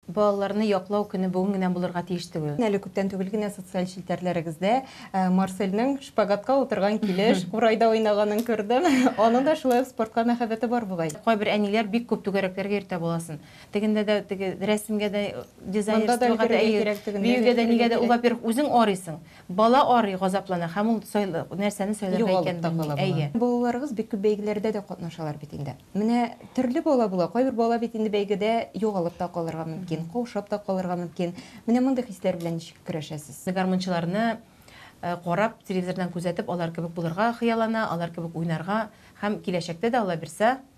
Балаларны яклау көне бүген генә булырга тиеш түгел. Әле күптән түгел генә социаль челтәрләрегездә Марселнең шпагатка утырган килеш курайда уйнаганын күрдем. Аның да шулай ук спортка мәхәббәте бар бугай. Кайбер әниләр бик күп түгәрәкләргә йөртә баласын. Тегендә дә теге рәсемгә дә, дизайнерствога да, биюгә дә, нигә дә, ул, во-первых, үзең арыйсың. Бала арый, газаплана һәм ул сайлы, нәрсәне сайларга икәнен белми. Әйе. Балаларыгыз бик күп бәйгеләрдә дә катнашалар бит инде. Менә төрле бала була, кайбер бала бит инде бәйгедә югалып та калырга мөмкин, каушап та калырга мөмкин. Менә мондый хисләр белән ничек көрәшәсез? Гармунчыларны карап, телевизордан күзәтеп, алар кебек булырга хыяллана, алар кебек уйнарга һәм киләчәктә дә, Аллабирса,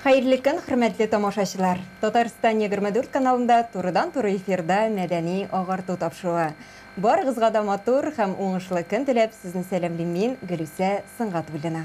Хәерле көн, хөрмәтле тамашачылар! Татарстан 24 каналында турыдан-туры эфирда мәдәни агарту тапшыруы. Барыгызга да матур һәм уңышлы көн теләп, сезне сәламлим мин, Гөлүсә Сынгатуллина.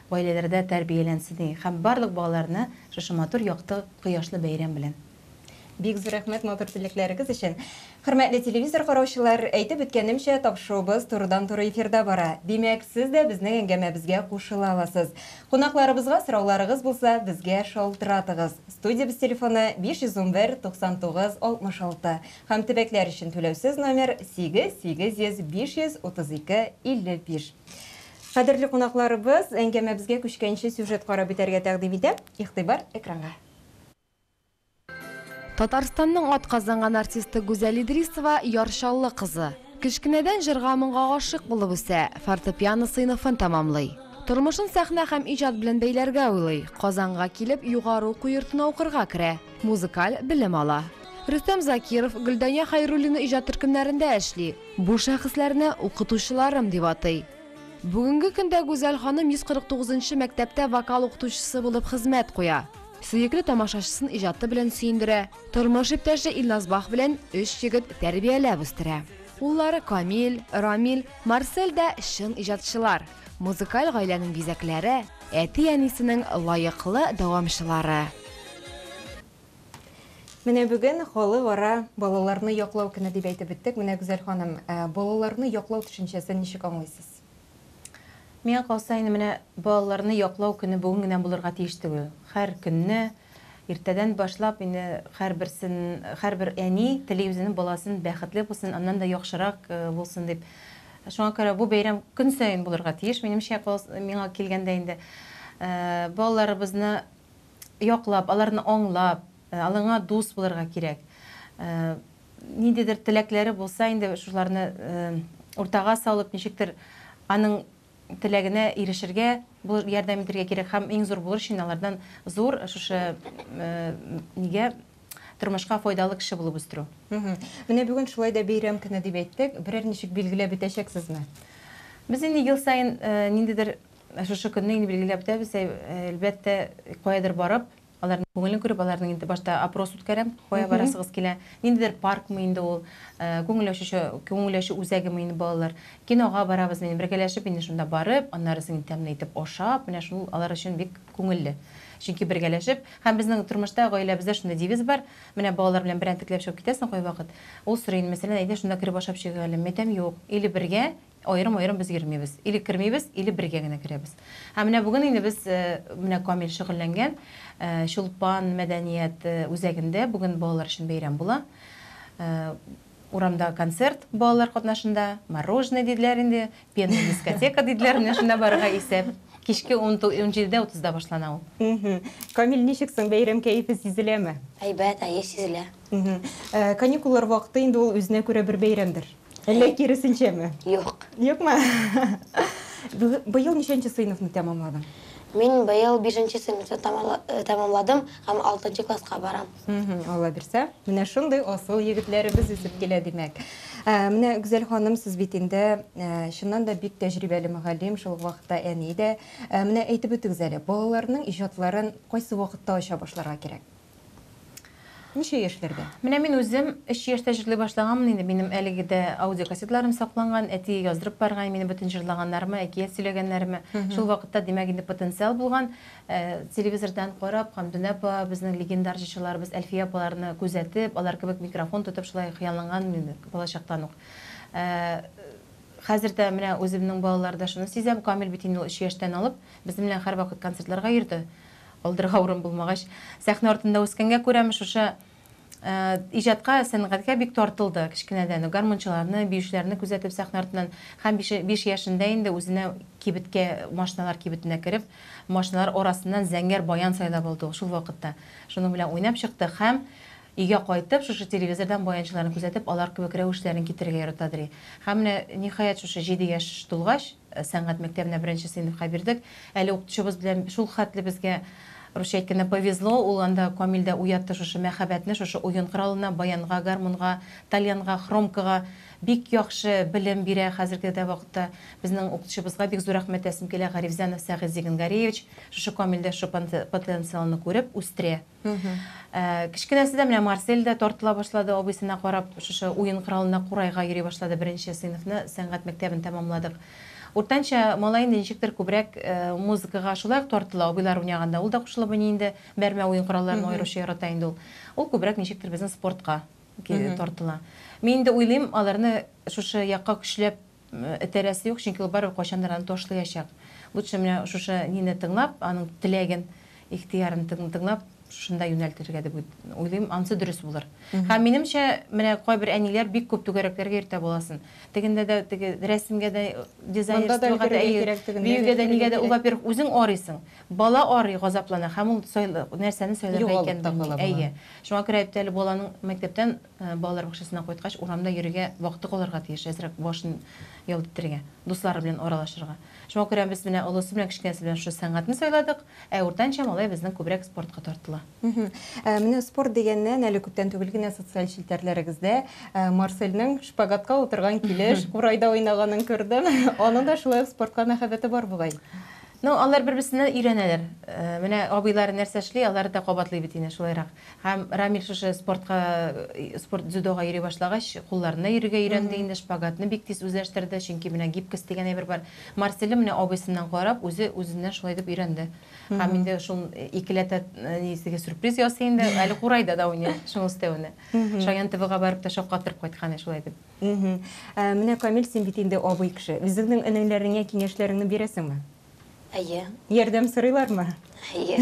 гаиләләрдә тәрбияләнсен и һәм барлык балаларны шушы матур якты кояшлы бәйрәм белән. Бик зур рәхмәт матур теләкләрегез өчен! Хөрмәтле телевизор караучылар, әйтеп үткәнемчә, тапшыуыбыз турыдан-туры эфирда бара. Димәк, сез дә безнең әңгәмәбезгә кушыла аласыз. Кунакларыбызга сорауларыгыз булса, безгә шалтыратыгыз. Студиябез телефоны, 511 99 66. Һәм төбәкләр өчен түләүсез номер, 8 800 532 55. Кадерле кунакларыбыз, әңгәмәбезгә күчкәнче сюжет карап бетәргә тәкъдим итәм, игътибар экранга. Татарстанның атказанган артисты Гүзәл Идрисова, Яр Чаллы кызы. Кечкенәдән җырга-моңга гашыйк булып үсә, фортепиано сыйныфын тәмамлый. Тормышын сәхнә һәм иҗат белән бәйләргә уйлый, Казанга килеп, югары уку йортына укырга керә. Музыкаль белем ала. Рөстәм Закиров Гөлдания Хәйруллина иҗат төркемнәрендә эшли. Бу шәхесләрне укытучыларым дип атый. Бүгенге көндә Гүзәл ханым 149 нчы мәктәптә вокал укытучысы булып хезмәт куя. Сөекле тамашачысын иҗаты белән сөендерә, тормыш иптәше Илназ Бах белән өч егет тәрбияләп үстерә. Уллары Камил, Рамил, Марсель дә чын иҗатчылар. Музыкаль гаиләнең бизәкләре, әти-әнисенең лаеклы дәвамчылары. Менә бүген халыкара балаларны яклау көне дип әйтеп үттек. Менә Гүзәл ханым, балаларны яклау төшенчәсен ничек аңлыйсыз? Миңа калса, инде менә балаларны яклау көне бүген генә булырга тиеш түгел. Һәр көнне, Иртәдән башлап инде һәрберсен, һәрбер әни тели үзенең баласын бәхетле булсын, аннан да яхшырак булсын дип. Шуңа күрә бу бәйрәм көн саен булырга тиеш, минемчә, миңа килгәндә инде. Балаларыбызны яклап, аларны аңлап, алыңа дус булырга кирәк. Ниндидер теләкләре булса инде, шуларны уртага салып, ничектер аның. теләгенә ирешергә, булыш, ярдәм итергә кирәк һәм иң зур булыр өчен алардан зур шушы нигә тормышка файдалы кеше булып үстерү. Менә бүген шулай да бәйрәм көне дип әйттек, берәр ничек билгеләп бетәчәксезме? Без инде ел саен ниндидер шушы көнне инде билгеләп бетәбез, әлбәттә, каядыр барып, Аларның күңелен күреп, аларның инде башта опрос үткәрәм, кая барасыгыз килә, ниндидер паркмы инде ул, э, күңел ачучы, күңел ачу үзәгеме инде балалар, кинога барабыз, инде бергәләшеп инде шунда барып, аннары соң тәмле итеп ашап, менә шул алар өчен бик күңелле. Чөнки бергәләшеп, һәм безнең тормышта, гаиләбездә шундый девиз бар, менә балалар белән берәнтекләп чыгып китәсең кайвакыт, ул сорый инде, мәсәлән, әйдә шунда кереп ашап чыгыйк әле, мәйтәм, юк, или бергә, Аерым-аерым без йөрмибез. Или кермибез, или бергә генә керәбез. Ә менә бүген инде без, менә Камил шөгыльләнгән Чулпан мәдәният үзәгендә бүген балалар өчен бәйрәм була. Урамда концерт балалар катнашында, мороженое диделәр инде, пенный дискотека диделәр, менә шунда барырга исәп. Кичке 17:30да башлана ул. Камил, ничек соң, бәйрәм кәефе сизеләме? Әйбәт, әйе, сизелә. Каникуллар вакыты инде ул үзенә күрә бер бәйрәмдер. Әллә киресенчәме? Юк. Юкмы? Быел ничәнче сыйныфны тәмамладың? Мин быел бишенче сыйныфны э, тәмамладым һәм алтынчы класска барам. Алла бирсә, менә шундый асыл егетләребез үсеп килә, димәк. Ә, менә Гүзәл ханым, сез бит инде ә, чыннан да бик тәҗрибәле мөгаллим, шул ук вакытта әни дә. Ә, менә әйтеп үтегез әле, балаларның иҗатларын кайсы вакытта ача башларга кирәк? Ничә яшьләрдә? Менә мин үзем өч яшьтә җырли башлаганмын инде, минем әлеге дә аудиокассеталарым сакланган, әти яздырып барган минем бөтен җырлаганнарыма, әкият сөйләгәннәремә. Шул вакытта, димәк, инде потенциал булган. Ә, телевизордан карап, Хәмдүнә апа, безнең легендар җырчыларыбыз Әлфия апаларны күзәтеп, алар кебек микрофон тотып шулай хыялланганмын инде балачактан ук. Ә, хәзер дә менә үземнең балаларда шуны сизәм, Камил бит инде ул өч яшьтән алып безнең белән һәрвакыт концертларга йөрде. Алдырга урын булмагач, сәхнә артында үскәнгә күрәме, шушы иҗатка, сәнгатькә бик тартылды кечкенәдән үк. Гармунчыларны, биючеләрне күзәтеп, сәхнә артыннан һәм биш, биш яшендә инде үзенә кибеткә, машиналар кибетенә кереп, машиналар арасыннан зәңгәр баян сайлап алды ул шул вакытта. Шуның белән уйнап чыкты һәм өйгә кайтып, шушы телевизордан баянчыларны күзәтеп, алар кебек рәвешләрен китерергә яратадыри. Һәм менә, ниһаять, шушы җиде яшь тулгач, Сәнгать мәктәбенә беренче сыйныфка бирдек. Әле укытучыбыз белән шул хәтле безгә, русча әйткәндә, повезло, ул анда Камил дә уятты шушы мәхәббәтне шушы уен коралына, баянга, гармунга, тальянга, хромкага. Бик яхшы белем бирә хәзерге дә вакытта. Безнең укытучыбызга бик зур рәхмәт әйтәсем килә, Гарифзянов Сәгыйзь Зигенгаревич шушы Камилдә шушы потенциалны күреп, үстерә. Кечкенәсе дә менә Марсель дә тартыла башлады, абыйсына карап, шушы уен коралына курайга йөри башлады. Беренче сыйныфны, сәнгать мәктәбен тәмамладык. Уртанча малай инде ничектер күбрәк музыкага шулай ук тартыла, абыйлар уйнаганда ул да кушылып уйный инде, бәрмә уен коралларын аеруча ярата инде ул. Ул күбрәк ничектер безнең спортка тартыла. Мин инде уйлыйм, аларны шушы якка көчләп этәрәсе юк, чөнки ул барыбер кайчандыр аны ташлыячак. Лучше менә шушы нине тыңлап, аның теләген, ихтыярын тыңлап, шунда юнәлтергә дип уйлыйм, анысы дөрес булыр. Һәм минемчә, менә кайбер әниләр бик күп түгәрәкләргә йөртә баласын. Тегендә дә, теге рәсемгә дә, дизайнерствога да, биюгә дә, нигә дә, ул, во-первых, үзең арыйсың, бала арый, газаплана һәм ул нәрсәне сайларга икәнен белми. Әйе. Шуңа күрә әйтте әле баланың мәктәптән Балалар бакчасыннан кайткач, урамда йөрергә вакыты калырга тиеш, әзрәк башын ялт итәргә, дуслары белән аралашырга. Шуңа күрә без менә олысы белән кечкенәсе белән шушы сәнгатьне сайладык, ә уртанчы малай безнең күбрәк спортка тартыла. Менә спорт дигәннән, әле күптән түгел генә социаль челтәрләрегездә Марсельнең шпагатка утырган килеш курайда уйнаганын күрдем. Аның да шулай ук спортка мәхәббәте бар бугай. Ну, алар бер-берсеннән өйрәнәләр. Менә абыйлары нәрсә эшли, алары да кабатлый бит инде шулайрак. Һәм Рамил шушы спортка, спорт дзюдога йөри башлагач, кулларында йөрергә өйрәнде инде, шпагатны бик тиз үзләштерде, чөнки менә гибкость дигән әйбер бар. Марселе менә абыйсыннан карап, үзе үзеннән шулай итеп өйрәнде. Һәм инде шул икеләтә низеге сюрприз ясый инде, әле курайда да уйный шуны өстәвенә. Шаян ТВга барып та шаккатырып кайткан иде шулай итеп. Менә, Камил, син бит инде абый кеше. Үзеңнең энеләреңә киңәшләреңне бирәсеңме? Әйе. Ярдәм сорыйлармы? Әйе.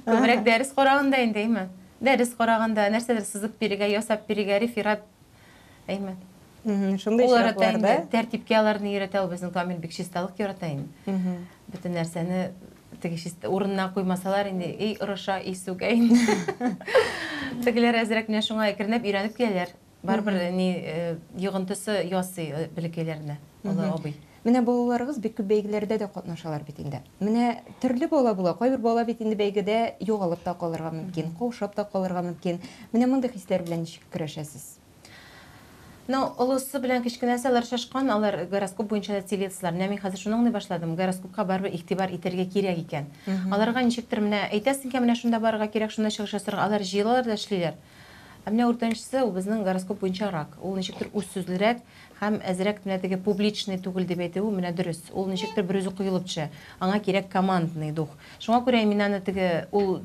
Күбрәк дәрес караганда инде, әйме? Дәрес караганда, нәрсәдер сызып бирергә, ясап бирергә, реферат, әйме? Шундый очракларда тәртипкә аларны өйрәтә ул безнең Камил бик чисталык ярата инде. Бөтен нәрсәне теге чист урынына куймасалар инде, эй, ырыша, эй, сүгә инде. Тегеләр әзрәк менә шуңа әкренләп өйрәнеп киләләр. Барыбер ни йогынтысы ясый бәләкәйләренә олы абый. Менә балаларыгыз бик күп бәйгеләрдә дә катнашалар бит инде. Менә төрле бала була, кайбер бала бит инде бәйгедә югалып та калырга мөмкин, каушап та калырга мөмкин. Менә мондый хисләр белән ничек көрәшәсез? Ну, олысы белән кечкенәсе алар шашкан, алар гороскоп буенча да телецлар. Менә мин хәзер шуны аңлый башладым, гороскопка барыбер игътибар итәргә кирәк икән. Аларга ничектер менә әйтәсең икән, менә шунда барырга кирәк, шунда чыгыш ясарга, алар җыелалар да эшлиләр. Ә менә үртәнчесе, ул безнең гороскоп буенча рак. Ул ничектер үзсүзлерәк һәм әзрәк менә теге публичный түгел дип әйтүе менә дөрес. Ул ничектер берүзе коелып төшә. Аңа кирәк командный дух. Шуңа күрә мин аны теге ул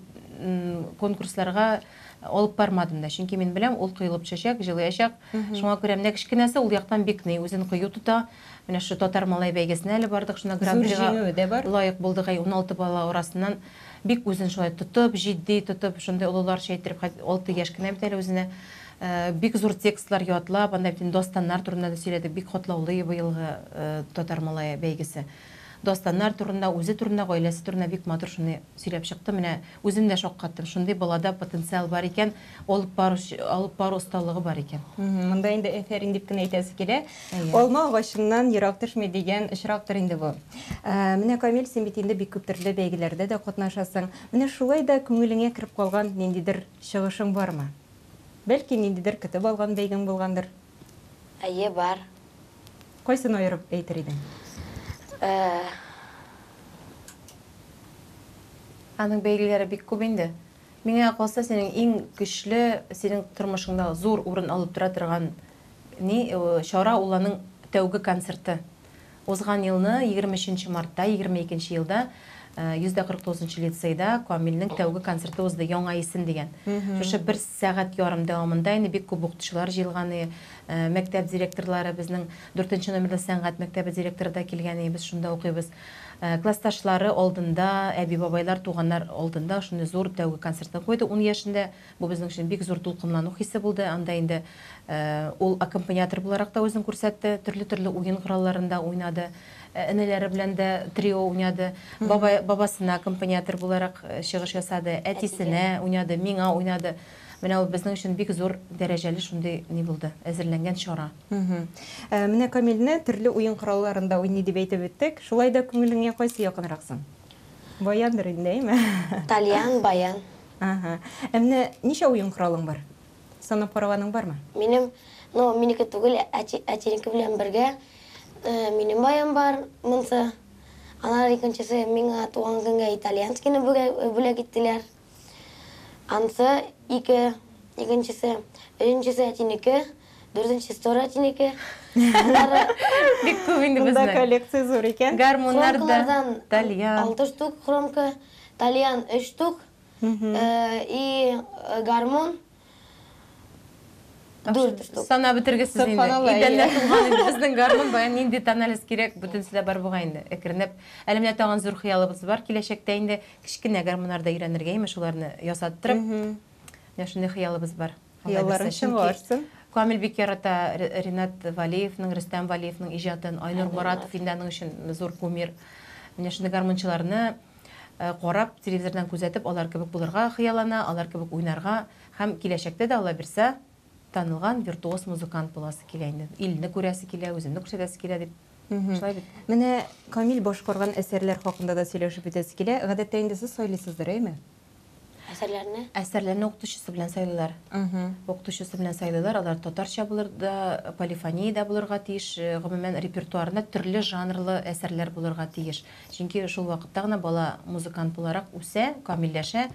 конкурсларга алып бармадым да. Чөнки мин беләм, ул коелып төшәчәк, җылыячак. Шуңа күрә менә кечкенәсе ул яктан бик ни, үзен кыю тота, Менә шушы Татар малае бәйгесенә әле бардык, шунда гран-прига лаек булдык, әй, уналты бала арасыннан. Бик үзен шулай тотып, җитди тотып, шундый олыларча иттереп, алты яшь кенә бит әле үзенә. Бик зур текстлар ятлап, анда бит инде дастаннар турында да сөйләдек, бик катлаулы быелгы Татар малае бәйгесе. Дастаннар турында, үзе турында, гаиләсе турында бик матур шуны сөйләп чыкты. Менә үзем дә шаккаттым, шундый балада потенциал бар икән. Алып бару, алып бару осталыгы бар икән. Монда инде әфәрин дип кенә әйтәсе килә. Алма агачыннан ерак төшми дигән очрактыр инде бу. Менә, Камил, син бит инде бик күп төрле бәйгеләрдә дә катнашасың. Менә шулай да күңелеңә кереп калган ниндидер чыгышың бармы? Бәлки, ниндидер көтеп алган бәйгең булгандыр? Әйе, бар. Кайсын аерып әйтер идең? Аның бәйгеләре бик күп инде. Миңа калса, синең иң көчле, синең тормышыңда зур урын алып тора торган ни чара ул аның тәүге концерты. Узган елны, егерме өченче мартта, егерме икенче елда, йөз дә кырык тугызынчы лицейда Камилнең тәүге концерты узды, Яңа исем дигән. Шушы бер сәгать ярым дәвамында инде бик күп укытучылар җыелган, мәктәп директорлары, безнең дүртенче номерлы сәнгать мәктәбе директоры да килгән, без шунда укыйбыз. Классташлары алдында, әби-бабайлар, туганнар алдында шундый зур тәүге концертын куйды ун яшендә. Бу безнең өчен бик зур дулкынлану хисе булды. Анда инде ул аккомпаниатор буларак та үзен күрсәтте, төрле-төрле уен коралларында уйнады. Энеләре белән дә трио уйнады. Бабай, бабасына аккомпаниатор буларак чыгыш ясады, әтисенә уйнады, миңа уйнады. Менә ул безнең өчен бик зур дәрәҗәле шундый ни булды, әзерләнгән чара. Мгм. Ә, Менә Камилне төрле уен коралларында уйный дип әйтеп үттек. Шулай да күңелеңә кайсы якынрак соң? Баяндыр инде, әйме? Тальян, баян. Ага. Ә менә ничә уен коралың бар? Санап караганың бармы? Минем, ну, минеке түгел, әти, әтинеке белән бергә э, минем баян бар, монсы. Аннары икенчесе миңа туган көнгә итальянскийны бүләк, бүләк иттеләр. Ансы ике, икенчесе, өченчесе әтинеке, дүртенчесе тоже әтинеке. Аннары Бик күп инде Монда безнең. коллекция зур икән. Гармуннар да, хромкалардан тальян. алты штук хромка, тальян өч штук э, и э, гармун Сана бетергесез инде. Идәнлә тулган инде безнең гармун. Бая нинди тональность кирәк, бөтенесе дә бар бугай инде. Әкренләп. Әле менә тагын зур хыялыбыз бар. Киләчәктә инде кечкенә гармуннар да өйрәнергә, имеш, уларны ясаттырып. Менә шундый хыялыбыз бар. Хыялларың чынлашсын. Камил бик ярата Ринат Валиевның, Рөстәм Валиевның иҗатын, Айнур Моратов инде аның өчен зур кумир. Менә шундый гармунчыларны карап, телевизордан күзәтеп, алар кебек булырга хыяллана, алар кебек уйнарга һәм киләчәктә дә, Алла бирсә, танылган виртуоз музыкант буласы килә инде. Илне күрәсе килә, үземне күрсәтәсе килә дип. Шулай бит. Менә Камил башкарган әсәрләр хакында да сөйләшеп үтәсе килә. Гадәттә инде сез сайлыйсыздыр, әйме? Әсәрләрне? Әсәрләрне укытучысы белән сайлыйлар. Укытучысы белән сайлыйлар. Алар татарча булыр да, полифония дә булырга тиеш. Э, гомумән репертуарында төрле жанрлы әсәрләр булырга тиеш. Чөнки шул вакытта гына бала музыкант буларак үсә, камилләшә.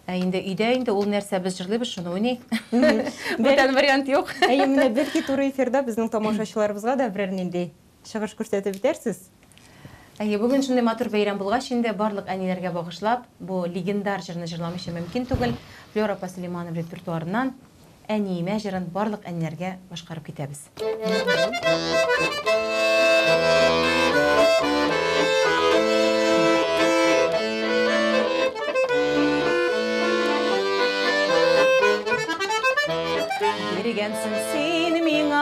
Ә инде өйдә инде ул нәрсә без җырлыйбыз, шуны уйный. Бүтән вариант юк. Әйе, менә бәлки туры эфирда безнең тамашачыларыбызга да берәр нинди Чыгыш күрсәтеп итәрсез. Әйе, бүген шундый матур бәйрәм булгач инде, барлык әниләргә багышлап, бу легендар җырны җырламыйча мөмкин түгел. Флера апа Сөләйманова репертуарыннан Әниемә җырын барлык әниләргә башкарып китәбез. Биргәнсең син миңа.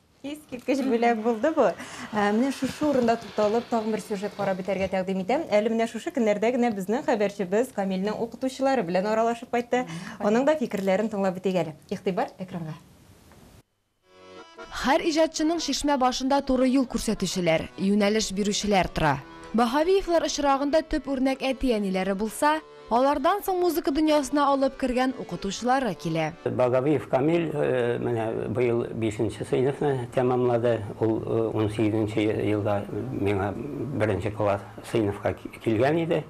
Искиткеч бүләк булды бу. Ә, Менә шушы урында тукталып, тагын бер сюжет карап бетәргә тәкъдим итәм. Әле менә шушы көннәрдә генә безнең хәбәрчебез Камилнең укытучылары белән аралашып кайтты. Аның да фикерләрен тыңлап бетик әле. Игътибар экранга. Һәр иҗатчының чишмә башында туры юл күрсәтүчеләр, юнәлеш бирүчеләр тора. Баһавиевлар очрагында төп үрнәк әти-әниләре булса, Алардан соң музыка дөньясына алып кергән укытучылары килә. Багабиев Камил менә быел бишенче сыйныфны тәмамлады. Ул унсигезенче елда миңа беренче класс сыйныфка килгән иде.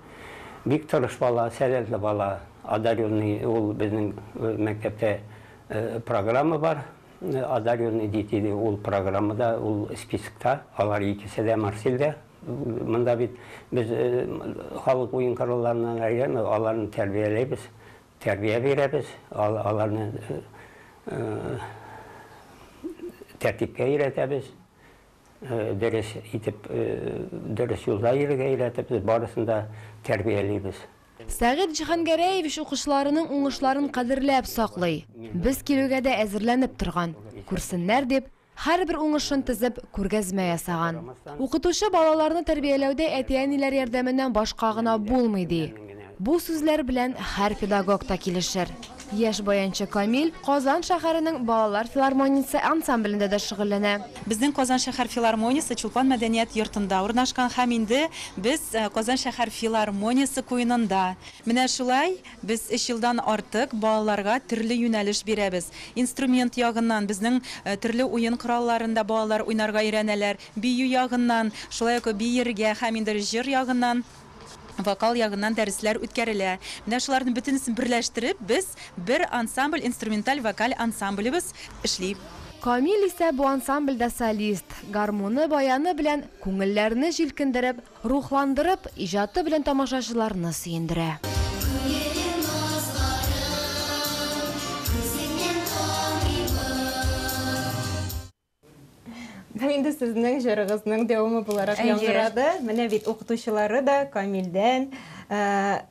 Бик тырыш бала, сәләтле бала, одаренный. Ул безнең мәктәптә программа бар, одаренный ди, диде. Ул программада, ул спискта, алар икесе дә Марсельдә. Монда бит без э, халык уен коралларына әйләнә, аларны тәрбияләйбез, тәрбия бирәбез, аларны э, э, тәртипкә өйрәтәбез, дөрес итеп, дөрес юлда йөрергә өйрәтеп, барысын да тәрбиялибез. Сәгыйть Җиһангәрәевич укучыларының уңышларын кадерләп саклый. Без килүгә дә әзерләнеп торган. Күрсеннәр дип, Һәрбер уңышын тезеп, күргәзмә ясаган. Укытучы балаларны тәрбияләүдә әти-әниләр ярдәменнән башка гына булмый, ди. Бу сүзләр белән һәр педагог та килешер. Яшь баянчы Камил Казан шәһәренең Балалар филармониясе ансамблендә дә шөгыльләнә. Безнең Казан шәһәр филармониясе Чулпан мәдәният йортында урнашкан һәм инде без Казан шәһәр филармониясе куенында. Менә шулай. Без өч елдан артык балаларга төрле юнәлеш бирәбез. Инструмент ягыннан, безнең төрле уен коралларында балалар уйнарга өйрәнәләр, бию ягыннан, шулай ук биергә һәм инде җыр ягыннан, вокал ягыннан дәресләр үткәрелә. Менә шуларны бөтенесен берләштереп, без бер ансамбль, инструменталь вокаль ансамблебыз эшли. Камил исә бу ансамбльдә солист, гармуны, баяны белән күңелләрне җилкендереп, Рухландырып, иҗаты белән тамашачыларны сөендерә. Күңелем назларың, күзеңнән таныймын. Бу инде сезнең җырыгызның дәвамы буларак яңгырады. Әйе. Менә бит укытучылары да Камилдән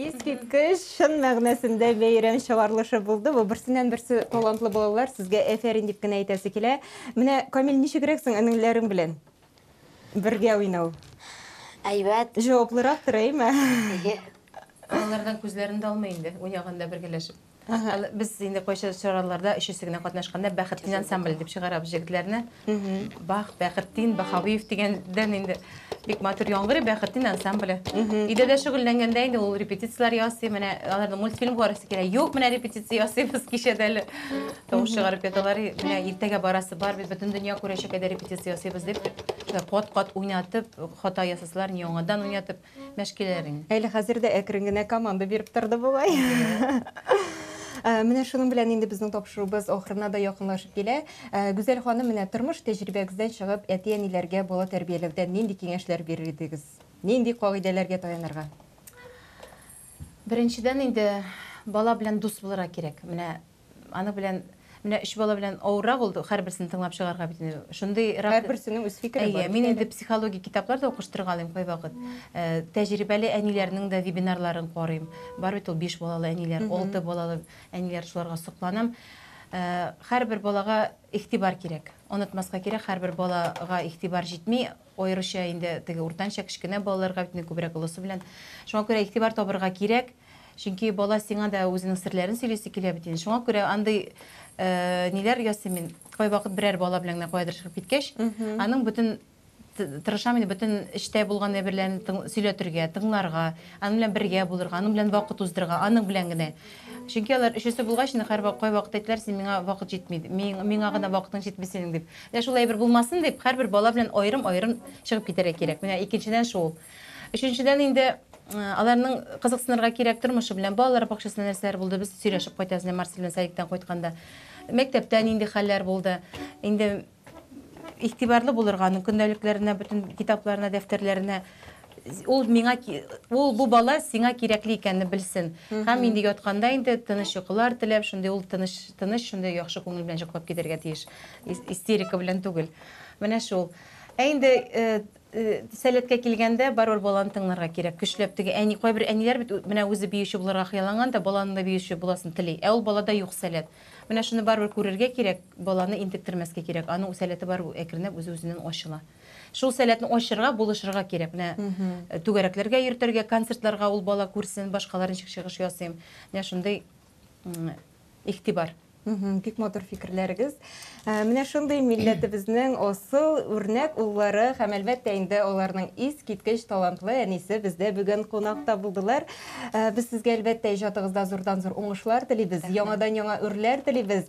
Искиткеч, шын мәгънәсендә бәйрәм чыгарлышы булды. Бу берсеннән берсе талантлы балалар, сезгә әфәрин дип кенә әйтәсе килә. Менә Камил ничегрәк соң энеңләрең белән бергә уйнау? Әйбәт. Җаваплырак тора, әйме? Балалардан күзләрен дә алмый инде, уйнаганда бергәләшеп. Ага. Алы- Без инде кайча чараларда өчесе генә катнашканда Бәхетдин ансамбль дип чыгарабыз җегетләрне. Бах, Бәхетдин, Бахавиев дигәндән инде бик матур яңгырый Бәхетдин ансамбле. Өйдә дә шөгыльләнгәндә инде ул репетицияләр ясый, менә аларның мультфильм карыйсы килә. Юк, менә репетиция ясыйбыз кичәдә әле. Тавыш чыгарып яталар, и, менә иртәгә барасы бар, без бөтен дөнья күрәчәк әйдә репетиция ясыйбыз дип, шулай кат-кат уйнатып, хата ясасалар, яңадан уйнатып. мәшкиләрен. Әле хәзер дә әкрен генә команда биреп торды бугай. Э, менә шуның белән инде безнең тапшыруыбыз ахырына да якынлашып килә. Э, Гүзәл ханым, менә тормыш тәҗрибәгездән чыгып, әти-әниләргә бала тәрбияләүдә нинди киңәшләр бирер идегез? Нинди кагыйдәләргә таянырга? Беренчедән инде бала белән дус булырга кирәк. Менә Аны белән менә өч бала белән авыррак ул һәрберсен тыңлап чыгарга бит инде. Шундый һәрберсенең үз фикере бар. Әйе, мин инде психология китаплар да укыштырга алыйм кайвакыт. Э, тәҗрибәле әниләрнең дә вебинарларын карыйм. Бар бит ул биш балалы әниләр, алты балалы әниләр шуларга сокланам. Э, һәрбер балага игътибар кирәк. Онытмаска кирәк, һәрбер балага игътибар җитми. Аеруча инде теге уртанча, кечкенә балаларга бит инде күбрәк олысы белән. Шуңа күрә игътибар табырга кирәк. Чөнки бала сиңа да үзенең серләрен сөйлисе килә бит инде. Шуңа күрә андый э, ниләр ясыйм мин. Кайвакыт берәр бала белән генә каядыр чыгып киткәч, аның бөтен тырышам инде бөтен эштә булган әйберләрен сөйләтергә, тыңларга, аның белән бергә булырга, аның белән вакыт уздырырга, аның белән генә. Чөнки алар өчесе булгач, инде һәр кайвакыт әйтәләр, син миңа вакыт җитми, миңа гына вакытың җитми синең дип. Менә шул әйбер булмасын дип, һәрбер бала белән аерым-аерым чыгып китәргә кирәк. Менә икенчедән шул. Өченчедән инде аларның кызыксынырга кирәк тормышы белән. Балалар бакчасында нәрсәләр булды? Без сөйләшеп кайтабыз, менә Марсель белән садиктан кайтканда. Мәктәптә нинди хәлләр булды? Инде игътибарлы булырга, аның көндәлекләренә, бөтен китапларына, дәфтәрләренә Ул миңа ул бу бала сиңа кирәкле икәнне белсен. Һәм инде ятканда инде тыныч йокылар теләп, шундый ул тыныч, тыныч шундый яхшы күңел белән йоклап китәргә тиеш. Истерика белән түгел. Менә шул. Ә инде сәләткә килгәндә барыбер баланы тыңларга кирәк. Көчләп теге әни, кайбер әниләр бит менә үзе биюче булырга хыялланган да, баланың да биюче буласын тели. Ә ул балада юк сәләт. Менә шуны барыбер күрергә кирәк, баланы интектермәскә кирәк. Аның сәләте барыбер әкренләп үзе-үзеннән ачыла. Шул сәләтне ачырга, булышырга кирәк. Менә э, түгәрәкләргә йөртергә, концертларга ул бала күрсен, башкалар ничек чыгыш ясыйм. Менә шундый м, игътибар. Мгм, Бик матур фикерләрегез. Ә, Менә шундый милләтебезнең асыл үрнәк уллары һәм әлбәттә инде аларның искиткеч талантлы әнисе бездә бүген кунакта булдылар. Ә, Без сезгә әлбәттә иҗатыгызда зурдан зур уңышлар телибез, яңадан яңа үрләр телибез.